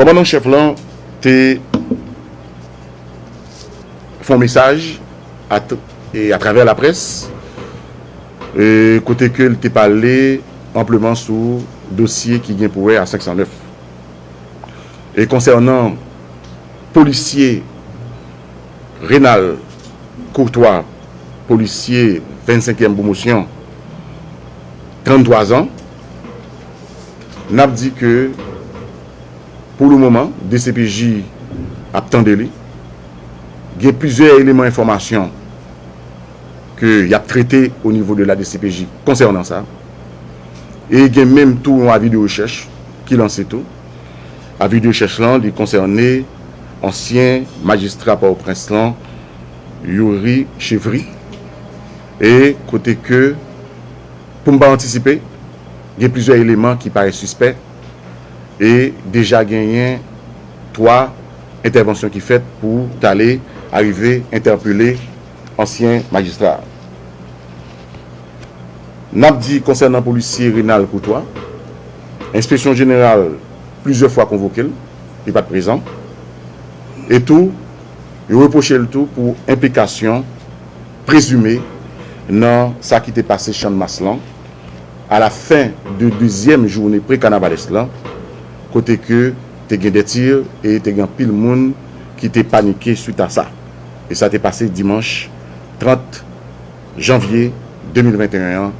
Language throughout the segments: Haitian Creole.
Kòmandan an chèf lan te fè yon mesaj atravè laprès kote ke li te pale anpleman sou dosye ki gen pou wè a 509. E konsènan polisye Renald Courtois, polisye 25 èm pwomosyon, 33 zan, Nap di ke pou le moman dcpj ap tande li. Gen plizyè eleman enfòmasyon ke yap trete o nivo de la dcpj konsènan sa. E gen menm tou yon avi de rechèch ki lanse tou. Avi de rechèch lan li konsène ansyen majistra Pòtoprens lan Youri Chevry e kote ke. Pou m pa antisipe, gen plizyè eleman ki parèt sispè e deja genyen 3 entèvansyon ki fèt pou t ale arive entèpele ansyen majistra a. N ap di konsènan polisye Renald Courtois, enspeksyon jeneral plizyè fwa konvoke l, li pa t prezan e tou yo repwoche l tou pou enplikasyon, prezime nan sa ki te pase Channmas lan a la fen de dezyèm joune pre-Carnavales lan kote ke te gen de tir e te gen anpil moun ki te panike swit a sa. E sa te pase dimanch 30 janvye 2021 an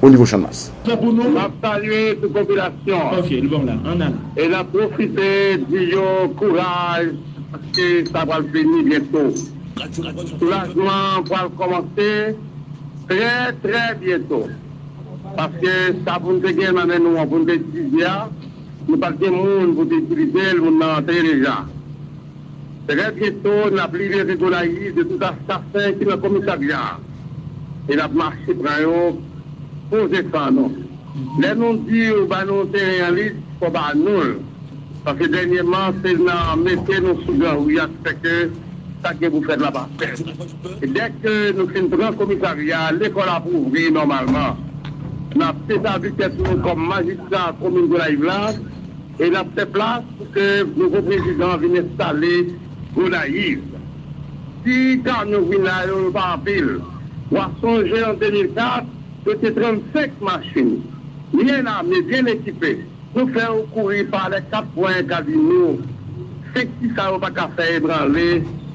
o nivo Channmas. Map salye tout popilasyon an e nap pwofite di yo kouraj paske sa pral fini byento. Soulajman an pral kòmanse trè trè byento paske sa pou n te gen nan men nou an pou n te itilize a nou pa t gen moun pou te itilize l, moun nan antre deja. Trè byento n ap libere Gonayiv de tout asasen ki nan komisarya a e n ap mache pran yo poze san nou. Lè nou di yo ba nou teren an lit fò ba nou l. Paske dènyèman se nan mete nou sou gran ri a ki fè ke sa ki gen pou fèt la pa fèt. Dèke nou fin pran komisarya a, lekòl ap ouvri nòmalman. N ap dezavi tèt nou kòm majistra komin Gonayiv la e n ap fè plas pou ke nouvo prezidan an vin enstale Gonayiv. Si kamyon gouina yo, yo pa anpil. W a sonje an 2004, yo te 35 machin byen ame, byen ekipe. Pou fèw kouri pa lè 4 pwen Casino 5 ti sa yo pa ka fè ebranle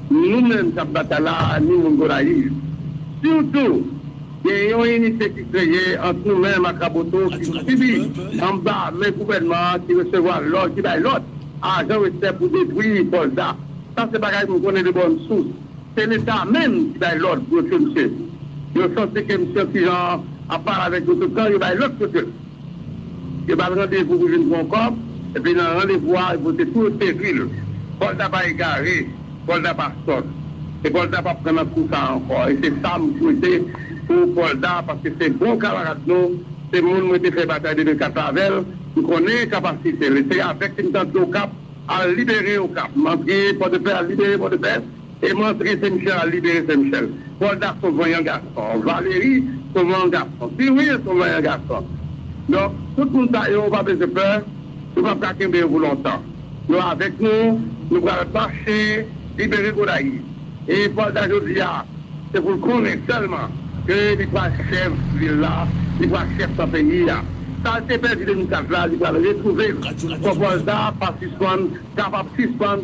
nou menm kap batay la ni moun Gonayiv. Diw tou gen yon inite ki kreye ant nou menm ak Raboto ki sibi anba men gouvènman ki resevwa lòd ki bay lòd ajan westè pou detwi Pòlta. Sa se bagay m konnen de bòn sous. Se leta menm ki bay lòd pou yo tye msye. Yo santi ke msye an kijan ap pale avèk yo tout tan yo bay lòd pou yo tye l. Yo bat randevou pou vin pran kòb, epi nan randevou a, yo pote tou yo sevri l. Volta pa egare, Volta pa sòt, e Volta pap pran nan kou sa ankò. E se sa m swete pou Volta, paske se bon kamarad nou, se moun mwen te fè batay 2004 la avè l, m konnen kapasite l. E se avèk li m t antre Okap al libere Okap, m antre Pòdepè al libere Pòdepè. E mantri se Michel al libere se Michel. Polda son vanyan gason. Valery son vanyan gason. Siwil son vanyan gason. Donk tout moun sa yo ou pa bezwen pè, nou pap ka kenbe yo pou lontan. Yo avèk nou, nou pral mache libere Gonayiv. E Polda jodi a se pou l konnen sèlman ke li pral chèf vil la, li pral chèf nan peyi a. Sa l te pèdi 2004 la li pral retwouve l. Fò Polda pa sispann kapab sispann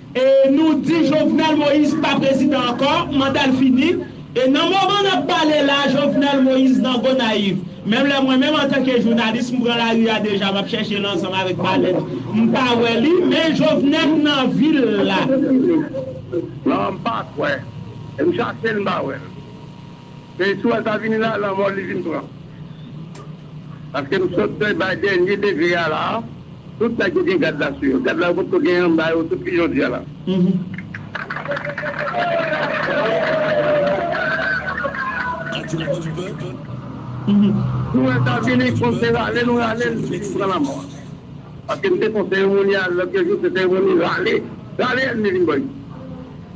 E nou di Jovenel Moïse pa prezidan ankò, manda l fini. E nan moman n ap pale la a, Jovenel Moïse nan Gonayiv. Menm lè mwen menm antanke jounalis, m pran lari a deja, m ap chèche l ansanm avèk palèt, m pa wè li. Men Jovenel nan vil la. Non, m pa kwè. E m chache l, m pa wè l. Lè istwa sa vini la, lanmò li vin pran. Paske m sot fin bay dènye degre a la a, tout nèg yo gen gad la sou yo. Gad la yo potko gen anba yo tout fi jodi a la. Nou wè sa vini, fòk se rale nou rale l li vin pran lanmò a. Paske m te fon seremoni a lòt yon jou, se seremoni rale. Rale ènmi vin bò isit.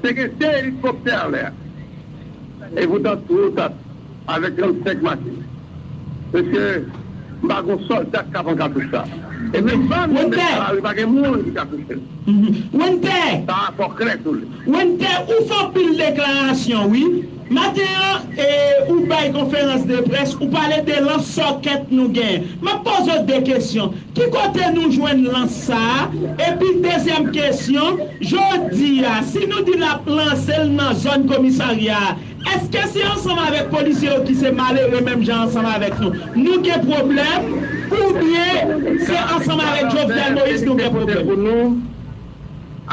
Te gen 2 elikoptè an lè a. E poutan twou ta avèk 35 machin. Mesye, m pa gon sòlda ki ka pran katouch sa. E menm ban yo met nan lari pa gen moun ki ka touche l. Sa a fò klè tou. Winter, ou fè anpil deklarasyon wi. Maten an e ou bay konferans de près ou pale de lans sòkèt nou gen. Map poze w 2 kesyon, ki kote nou jwenn lans sa a? Epi dezyèm kesyon, jodi a si nou di nap lanse l nan zòn komisarya a, eske se ansanm avèk polisye yo ki se malere menm jan ansanm avèk nou, nou gen pwoblèm? Oubyen se ansanm avèk Jovenel Moïse nou gen pwoblèm?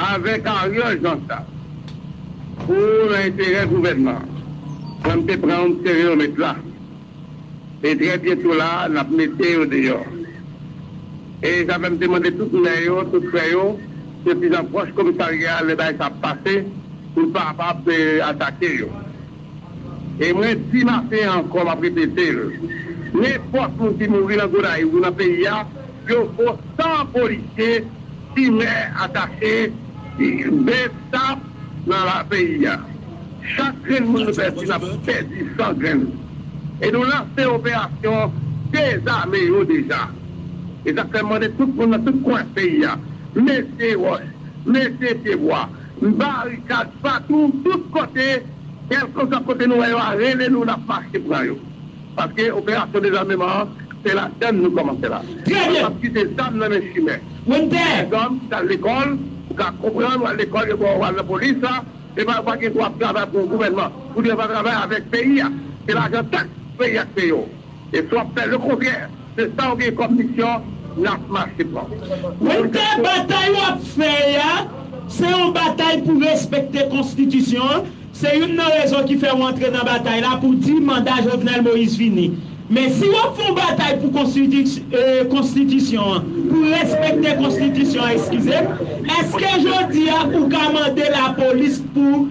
Avèk Ariel Jean sa pou nan enterè gouvènman fò n te pran yon stereomèt la e trè byento la n ap mete yo deyò e sa fè m te mande tout mè yo tout frè yo se pi nan pwòch komisarya lè bagay sa ap pase pou l pa apab atake yo. E mwen di maten an ankò, m ap repete l, nenpòt moun ki mouri nan Gonayiv ou nan peyi a, yo vo 100 polisye, timè, atache, bsap nan la peyi a. Chak grenn moun nou pèdi, n ap pèdi 100 grenn. E nou lanse operasyon dezame yo deja. E sa k fè m mande tout moun nan tout kwen peyi a, mete wòch, mete pyebwa. M barikad patou tout kote kelkeswa kote nou wè yo a rele nou nap mache pran yo paske operasyon dezameman an se ladann nou komanse la nou pap kite zam nan men chimè tizanm ki tal lekol ou ka konprann wal lekol yo baw wal nan polis la epa yo pa gen dwa ap travay pou yon gouvènman ou devan travay avèk peyi a se lajan taks peyi a k peyew. E si w ap fè lekontrè de sa w gen kòm misyon, n ap mache pran w. Mwen kwè batay w ap fè a, se yon batay pou respekte konstitisyon an. Se youn nan rezon ki fè w antre nan batay la pou w di manda Jovenel Moïse fini. Men si w ap fè yon batay pou konstitisyon an, pou w respekte konstitisyon an, eskize m, èske jodi a ou ka mande lapolis pou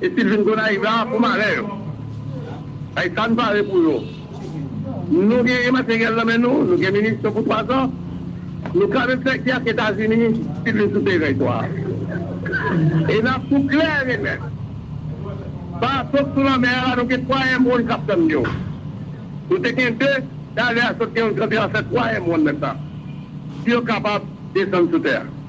Epi l vin Gonayiv la pou malè yo. Bay sa n pare pou yo. Nou genyen materyèl nan men nou, nou gen minisyon pou twa zan. Nou ka menm fè gè ak Etazini si l vin sou teren to a. E n ap tou klè e nèt. Bato k sou lanmè a la nou gen twa M-won k ap tann yo. Nou te gen de, talè a sot gen yon gran tranfè twa M-won nan sa. Si yo kapab desann sou tè a.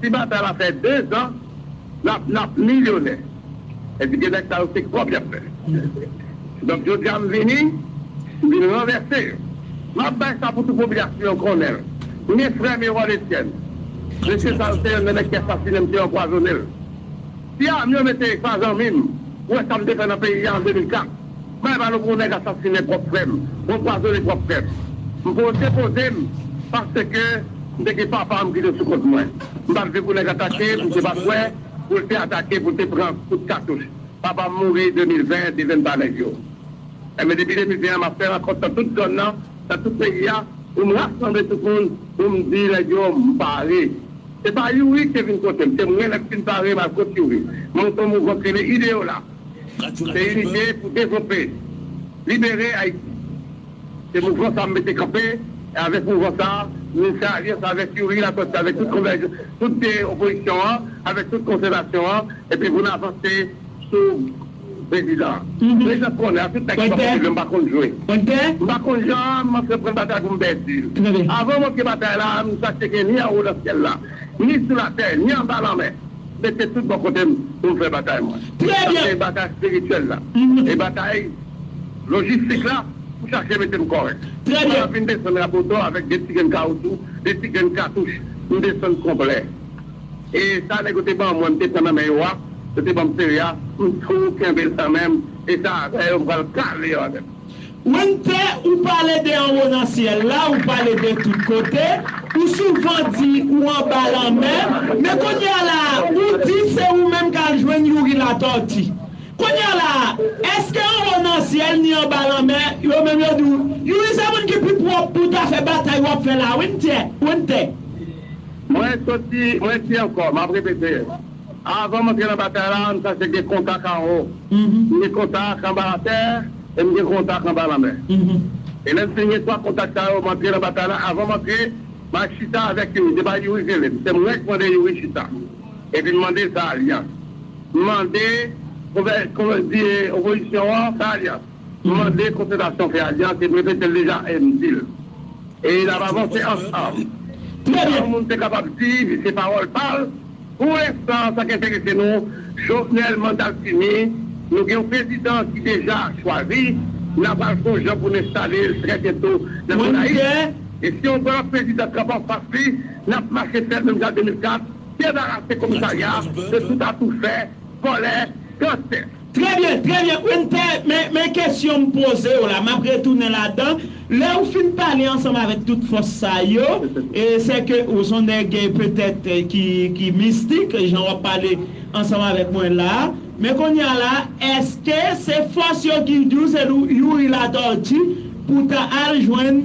Si batay la fè 2 zan nap nap milyonè epi 2 nèg sa yo se kòb yap fè donk jodia m vini m vin ranvèse yo map bay sa pou tout popilasyon an konnen l kounye frè m Erol Etienne mesye sa yo se yonn nan nèg ki asasine m ki anpwazone l ti ame yo mete pa zanmi m ou wè sa m te fè nan peyi a an 2004. Bay balo pou nèg asasine pwòp frè m, pou anpwazone pwòp frè m. M pou yo depoze m paske m te gen papa m ki te sou kont mwen. M pa t vle pou nèg atake m, m te pa kwè pou l te atake pou l te pran kout katouch. Papa m mouri 2020 devenn pa nèg yo. Enben depi 2020 an m ap fè rankont nan tout zòn nan, nan tout peyi a pou m rasanble tout moun pou m di nèg yo m pare. Se pa Youri ki te vin kote m, se mwen lè m fin pare m al kot Youri. M monte yon mouvman ki rele Ideyola. Se yon lide pou devlope, libere Ayiti. Se mouvman sa m mete kanpe e avèk mouvman sa nou fè alyans avèk Youri Latortue avèk tout konvèj tout de opozisyon an avèk tout konsèvasyon an epi pou n avanse sou prezidan an. Prezidan m konnen a tout nèg ki pa konn jwe m pa konn jwe. M pa konn jan m antre pran batay pou m pèdi l. Avan m antre batay la m chache gen ni anwo nan syèl la ni sou latè ni anba lanmè. Mete tout bò kote m pou m fè batay mwen. Sa se batay espirityèl la. E batay lojistik la pou chache mete m kòrèk. Mwen ap vin desann Raboto avèk de ti grenn kawoutchou, de ti grenn katouch pou m desann konplè. E sa nèg yo te ban mwen m te pran nan men yo a, yo te ban m seri a, m tou kenbe l kanmenm. E sa avè yo m pral kale yo avè l. Wennte ou pale de anwo nan syèl la ou pale de tout kote ou souvan di ou anba lanmè men kounya la ou di se ou menm kal jwenn youri latòti kounya la eske anwo nan syèl ni anba lanmè yo menm yo di ou youri se moun ki pi pwòp pou ta fè batay wap fè la wennte. Mwen soti mwen di ankò map repete. Avan m antre nan batay la, m chache gen kontak anwo. M gen kontak anba latè e m gen kontak anba lanmè. E lè m fin gen 3 kontak sa yo, m antre nan batay la. Avan m antre, m al chita avèk Youri. Se pa Youri ki rele m. Se mwen ki mande Youri chita. Epi m mande l fè alyans. M mande opozisyon an fè alyans. M mande konsiltasyon frè a di a, se m repete l deja e m di l. E n ap avanse ansanm. Trè byen! Yon moun te kapab di se pawòl pa l, Pou lenstan sa k enterese nou, Jovenel manda l fini, nou gen yon prezidan ki deja chwazi, n ap al fon jan pou n enstale l trè byento nan Gonayiv. E si yon gwo lòt prezidan kanpe anfas li, n ap mache fè l menm jan 2004, debarase komisarya de tout atoufè, vòlè, gansè. Trè byen, trè byen Quinte, men, men kesyon m poze w la, m ap retounen ladan, lè ou fin pale ansanm avèk tout fòs sa yo, e sè ke ou son nèg petèt ki, ki mistik, jan w ap pale ansanm avèk mwen la a, men kounye a la, èske se fòs yo ki di w se Youri Latortue pou w ta al jwenn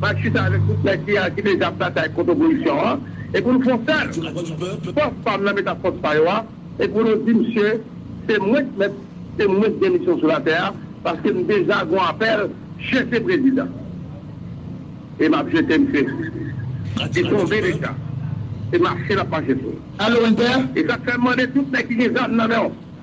Ba n chita avèk tout nèg ki aji deja ap batay kont opozisyon an e pou n fon sèl. Fòs pa m nan met ak fòs pa yo a e pou nou di msye se mwen k mèt se mwen k gen misyon sou latè a paske m deja gon apèl chèche prezidan e m ap jete msye li tonbe deja se mache l ap mache sou. Alo Inter. E sa k fè m mande tout nèg ki gen zam nan men w.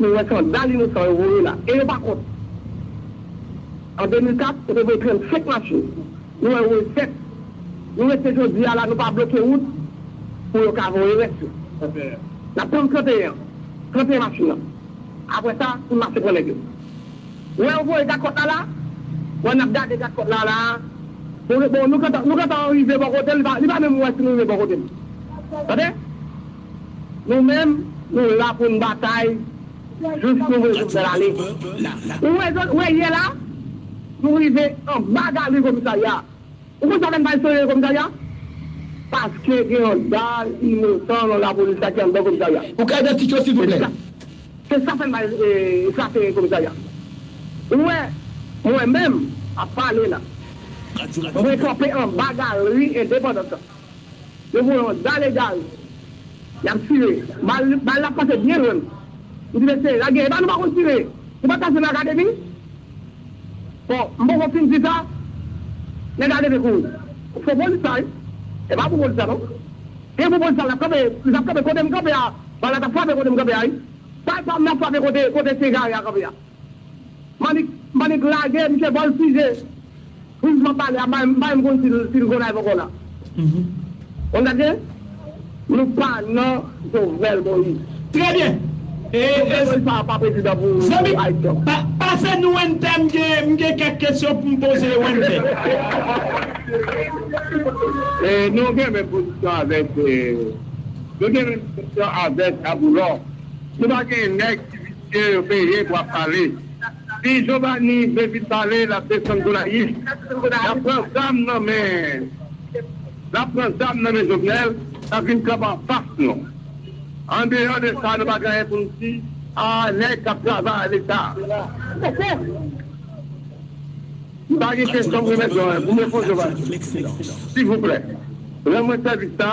Nou wè kanda linosan yo voye la e yo pa kont. An 2004, yo te voye 35 machin. Nou wè yo voye 7. Nou rete jodi a la nou pa bloke wout pou yo ka voye rès yo. N ap tann 31 an. 31 machin nan. Apre sa, pou n mache pran nèg yo. Ou wè yo voye gadkòt la la. Ou wè n ap gade gadkòt la la. Bon, nou gentan rive bò kote l. Li pa menm wè si nou rive bò kote l. Tande! Nou menm, nou la pou n batay jous nou wè Jovenel ale. Ou wè zòn, ou wè yè la, nou rive anba galri komisarya a. Ou konn sa fè n pa al sere komisarya a? Paske gen yon dal inosan nan lapolis la ki anndan komisarya. Ou ka idantifye w silvouplè? Se sa fè n pa al sere komisarya a. Ou wè, mwen menm, ap pale la, mwen kanpe anba galri endepandans la. Yo voye yon zan egare. Y ap tire. Bal la pase byen lwen m. M di mesye, lage. Epa nou pa konn tire. Nou pa t pase nan akademi? Bon, m poko fin di sa, nèg la leve kouri. Fo polis sa wi. E pa bon polis la non. Gen bon polis la, l ap kanpe. Li t ap kanpe kote m kanpe a. Bal la t ap frape kote m kanpe a wi. Bal pa m nan frape kote ti egare a kanpe a. Manick manick lage misye bol fije priz map pale a bay bay mkonn sil sil gonay poko la on gad byen nou pa nan jovenel moïse Trè byen e jovenel moïse pa pa prezidan pou zanmi pou ayiti anko. pa pase nou wennte m gen m gen kèk kesyon pou m poze wennte. Nou gen menm pozisyon avèk nou gen menm pozisyon avèk aboulò nou pa gen nèg ki vin. Ke yo peye pou ap pale. Si jovani vle vin pale lap desann gonayiv lap pran zam nan men lap pran zam nan men jovenel lap vin kanpe anfas nou andeyò de sa nou pa gen anyen poun di a nèg kap travay leta ok m pa gen kesyon m remèt non pou m reponn jovani silvouplè rann mwen sèvis la.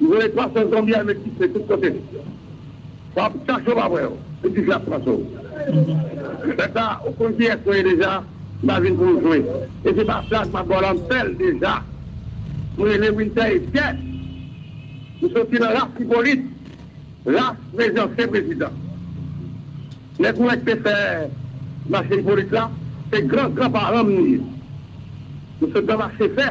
Yo voye 300 zonbi ame ki se tout kote. Sa w chache w pa wè yo. Se dife ap tranche w. Lè sa a, ou konn kiyès mwen ye deja. M pa vin pou m jwe. E se pa plag m ap ba w la m fè l deja. M rele Wintè Etyè. M soti nan ras Ipolit. Ras mezi ansyen prezidan. Lè Kourèk te fè mache Ipolit la, se gran gran paran m li ye. M sot nan mache fè.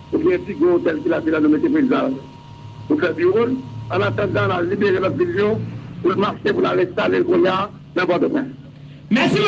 Ou gen yon ti gwo otèl ki la, se la nou mete prezidan an pou fè biwo l. An atandan, n al libere lòt vil yo pou l mache pou n al enstale l kounye a nan Pòtoprens. Mèsi.